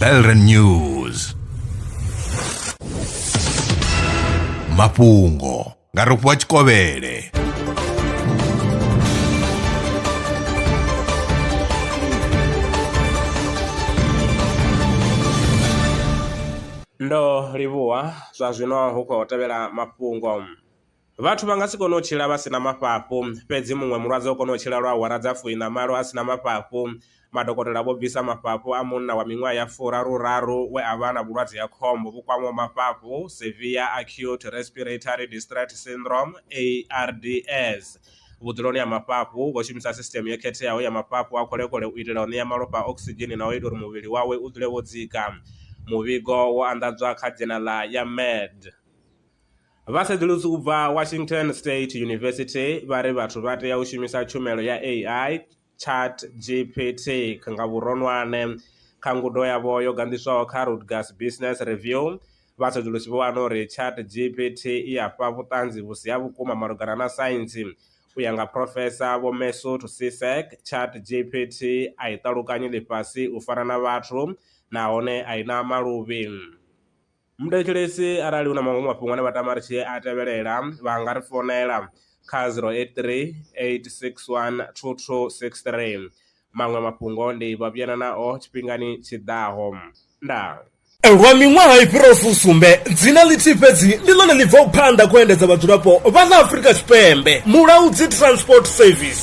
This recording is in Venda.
Belren News mafhungo nga rofhiwa tshikovhele ndo livhuwa zwa zwino hu khou tevhela mafhungo Vhathu vha nga si kone u tshila vha si na mafhafhu. Fhedzi muṅwe mulwadze o kona u tshila lwa awara dza fuiṋa-malo a si na mafhafhu. Madokotela vho bvisa mafhafhu a munna wa miṅwaha ya furaru-raru we a vha na vhulwadze ha khombo vhu kwamaho mafhafhu, Severe Acute Respiratory Distress Syndrome, ARDS, vhudzuloni ha mafhafhu. Vho shumisa sisiṱeme yo khetheaho ya mafhafhu a khole-khole u itela u ṋea malofha okisidzheni na u ita uri muvhili wawe u dzule wo dzika. Muvhigo wo anḓadzwa kha dzhenala ya Med. Vhasedzulusi u bva Washington State University vha ri vhathu vha tea u shumisa tshumelo ya AI, ChatGPT, nga vhuronwane. Kha ngudo yavho yo ganḓiswaho kha Rutgers Business Review, vhasedzulusi vho wana uri ChatGPT i a fha vhuṱanzi vhu si ha vhukuma malugana na saintsi. U ya nga Phrofesa Vho Mesut Sisek, ChatGPT a i ṱalukanyi ḽifhasi u fana na vhathu nahone a i na maluvhi. Muthetshelesi arali hu na maṅwe mafhungo ane vha tama ri tshi a tevhelela vha nga ri founela kha zero eight three eight six one two two six three, maṅwe mafhungo ndi vha vhuyana nao tshifhingani tshi ḓaho. Ndaa. Lwa miṅwaha i fhiraho fusumbe, dzina ḽithihi fhedzi ndi ḽone ḽi bvaho phanḓa kha u endedza vhadzulapo vha ḽa Afrika Tshipembe, Mulaudzi Transport Service.